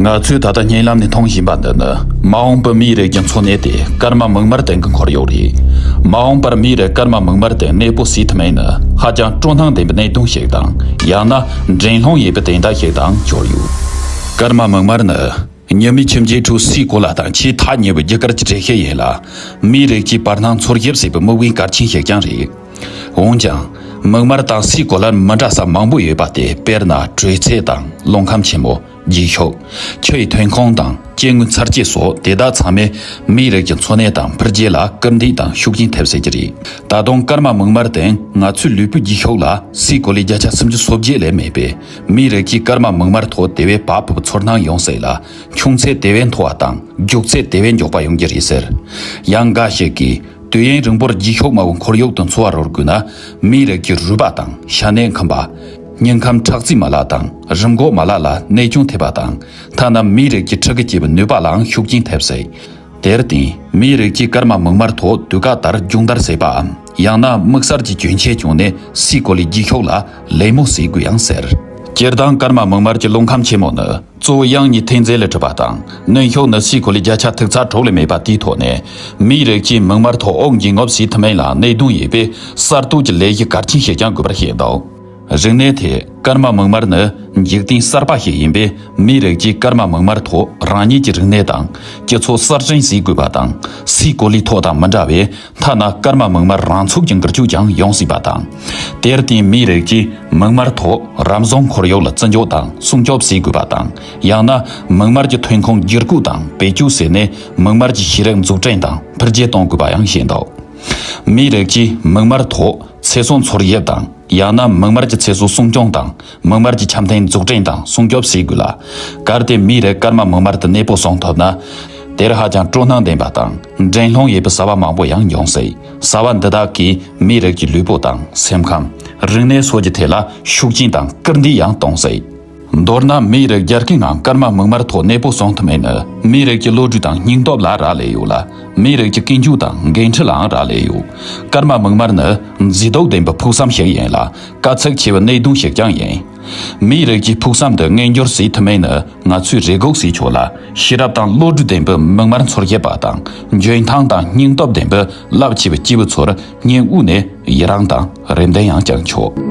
ང་ཚོས་ད་ལྟ་བརྙན་ལམ་ནས་མཐོང་བཞིན་པ་འདི་ནི་མ་འོངས་པའི་མིའི་རིགས་ཀྱི་འཚོ་གནས་དེ་སྐར་མ་མིག་དམར་སྟེང་གི་འཁོར་ཡུག་རེད། མ་འོངས་པར་མིའི་རིགས་སྐར་མ་མིག་དམར་སྟེང་གནས་སྤོ་བྱེད་ཐུབ་མིན་ནི་ཧ་ཅང་སྤྲོ་སྣང་ལྡན་པའི་གནད་དོན་ཞིག་དང་ཡང་ན་འགྲན་སློང་ཡོད་པའི་དན་རྟགས་ཤིག་དང་གྱུར་ཡོད། སྐར་མ་མིག་དམར་ནི་ཉི་མའི་ཁྱིམ་རྒྱའི་ཁྲོད་སའི་གོ་ལ་དང་ཆེས་ཐག་ཉེ་བའི་རྒྱུ་སྐར་གྱི་འགྲེལ་བཤད་ཡིན་ལ། མིའི་རིགས་ཀྱིས་བར་སྣང་འཚོལ་ཞིབ་བྱེད་པའི་དམིགས་འབེན་གལ་ཆེན་ཞིག་ཀྱང་རེད། འོན་ཀྱང། མིག་དམར་དང་སའི་གོ་ལར་མི་འདྲ་ས་མང་པོ་ཡོད་པ་སྟེ་དཔེར་ན་དྲོད་ཚད་དང་རླུང་ཁམས་ཆེན་མོ། རྗེས་ཕྱོགས། ཆུ་ཡི་ཐོན་ཁུངས་དང་སྐྱེ་དངོས་འཚར་སྐྱེ་སོགས་དེ་དག་ཚང་མས་མིའི་རིགས་ཀྱི་འཚོ་གནས་དང་འཕེལ་རྒྱས་ལ་སྐུལ་འདེད་དང་ཤུགས་རྐྱེན་ཐེབས་སྲིད་ཀྱི་རེད། ད་དུང་སྐར་མ་མིག་དམར་སྟེང་ང་ཚོའི་ལུས་པོའི་རྗེས་ཕྱོགས་ལ་སའི་གོ་ལའི་བརྒྱ་ཆ་སུམ་ཅུ་སོ་བརྒྱད་ལས་མེད་པས་མིའི་རིགས་ཀྱིས་སྐར་མ་མིག་དམར་ཐོག་དེ་བས་བབ་བབ་ཚོར་སྣང་ཡོང་སྲིད་ལ། ཁྱུང་ཚད་དེ་བས་མཐོ་བ་དང་རྒྱུག་ཚད་དེ་བས་མགྱོགས་པ་ཡོང་རྒྱུ་རེད་ཟེར། ཡང་འགའ་ཞིག་གིས། དུས་ཡུན་རིང་པོར་འགྱིག་ཤོག་དམར་བོ་འཁོར་ཡུག་ཏུ་འཚོ་བ་རོལ་དགོས་ན། མིའི་རིགས་ཀྱི་རུས་པ་དང་ཤ་གནད་འཁམས་པ། སྙིང་ཁམས་ཁྲག་རྩིས་མ་ལག་དང་རིམས་འགོག་མ་ལག་ལ་ནད་ཅུང་ཐེབས་པ་དང། ཐ་ན་མིའི་རིགས་ཀྱི་ཁྲག་གི་སྐྱེ་བའི་ནུས་པ་ལའང་ཤུགས་རྐྱེན་ཐེབས་སྲིད། དེར་བརྟེན། མིའི་རིགས་ཀྱིས་སྐར་མ་མིག་དམར་ཐོག་དུས་བཀག་ལྟར་མཇུག་མཐར་བསྲེགས་པའམ་ཡང་ན་དམིགས་བསལ་གྱི་གྱོན་ཆས་བྱུང་ནས་སྲིད་གོ་ལའི་འགྱིག་ཤོག་ལ་ལད་མོ་བཟོས་དགོས་ཡང་ཟེར། སྤྱིར་བཏང་སྐར་མ་མིག་དམར་གྱི་རླུང་ཁམས་ཆེན་མོ་ནི། གཙོ་བོ་དབྱང་གཉིས་ཐེངས་བརྩེགས་ལས་གྲུབ་པ་དང་གནོན་ཤོག་ནག་བསིལ་གོ་ལའི་བརྒྱ་ཆ་ཐུག་ཚ་གྲོགས་ལས་མེད་པ་དེའི་ཐོག་ནས་མིའི་རིགས་ཀྱིས་མིག་དམར་ཐོག་ཨོག་འགྱིང་ངོབས་ཟིན་ཐུབ་མིན་ལ་གནད་དུ་ཡོད་པས་གསར་གཏོད་ཀྱི་ལས་གཞི་གལ་ཆེན་ཞིག་ཀྱང་དགོས་པར་བཤད་འདུག་རིག་གནས་ཐད་སྐར་མ་མིག་དམར་ནི་འཇིག་རྟེན་གསར་པ་ཞིག་ཡིན་པས་མིའི་རིགས་ཀྱིས་སྐར་མ་མིག་དམར་ཐོག་རང་ཉིད་ཀྱི་རིག་གནས་དང་སྤྱི་ཚོགས་གསར་བཞེངས་བྱེད་དགོས་པ་དང་བསིལ་གོ་ལའི་ཐོག་དང་མི་འདྲ་བས་ཐ་ན་སྐར་མ་མིག་དམར་རང་ཚུགས་ཀྱི་འགུལ་སྐྱོད་ཀྱང་ཡོང་སྲིད་པ་དང། དེར་བརྟེན་མིའི་རིགས་ཀྱིས་མིག་དམར་ཐོག་རམ་བཟོ་འཁོར་གཡོག་ལ་བརྩི་འཇོག་དང་སྲུང་སྐྱོབ་བྱེད་དགོས་པ་དང། ཡང་ན་མིག་དམར་གྱི་ཐོན་ཁུངས་བསྒྱུར་བཀོད་དང་བེད་སྤྱོད་བྱས་ནས་མིག་དམར་གྱི་ཤེས་རིག་འཛུགས་སྐྲན་དང་འཕེལ་རྒྱས་གཏོང་དགོས་པ་ཡང་བཤད་འདུག་མིའི་རིགས་ཀྱིས་མིག་དམར་ཐོག་ཚེ་སྲོག་འཚོལ་ཡུལ་དང། ཡང་ན་མིག་དམར་གྱི་ཚེ་སྲོག་སྲུང་སྐྱོང་དང་མིག་དམར་གྱི་འཆམ་མཐུན་འཛུགས་སྐྲན་དང་སྲུང་སྐྱོབ་བྱེད་དགོས་ལ། གལ་ཏེ་མིའི་རིགས་སྐར་མ་མིག་དམར་དུ་གནས་སྤོ་སོང་ཐུབ་ན། དེར་ཧ་ཅང་སྤྲོ་སྣང་ལྡན་པ་དང། འགྲན་སློང་ཡོད་པའི་བཟའ་བ་མང་པོ་ཡང་མྱོང་སྲིད། བཟའ་བ་འདི་དག་གིས་མིའི་རིགས་ཀྱི་ལུས་པོ་དང་སེམས་ཁམས། རིག་གནས་སོགས་ཀྱི་ཐད་ལ་ཤུགས་རྐྱེན་དང་སྐུལ་འདེད་ཡང་གཏོང་སྲིད། མདོར་ན་མིའི་རིགས་རྒྱ་སྐྱེད་ངང་སྐར་མ་མིག་དམར་ཐོག་གནས་སྤོ་གསུང་ཐུབ་མིན་ནི་མིའི་རིགས་ཀྱི་བློ་གྲོས་དང་སྙིང་སྟོབས་ལ་རག་ལས་ཡོད་ལ། མིའི་རིགས་ཀྱི་ཀུན་སྤྱོད་དང་འགན་འཁྲི་ལའང་རག་ལས་ཡོད། སྐར་མ་མིག་དམར་ནི་མཛེས་སྡུག་ལྡན་པའི་ཕུགས་བསམ་ཞིག་ཡིན་ལ་དཀའ་ཚེགས་ཆེ་བའི་གནད་དོན་ཞིག་ཀྱང་ཡིན། མིའི་རིགས་ཀྱི་ཕུགས་བསམ་དུ་མངོན་འགྱུར་བཟོས་ཐུབ་མིན་ནི་ང་ཚོས་རེ་སྒུག་བྱེད་ཆོག་ལ་ཤེས་རབ་དང་བློ་གྲོས་ལྡན་པོས་མིག་དམར་མཚོར་གཡས་པ་དང་འཇོན་ཐང་དང་སྙིང་སྟོབས་ལྡན་པོས་རླབས་ཆེ་བའི་སྐྱེས་བུ་ཚོར་སྙིང་དབུས་ནས་ཡི་རང་དང་རེ་འདུན་ཡང་བསྐྱང་ཆོག།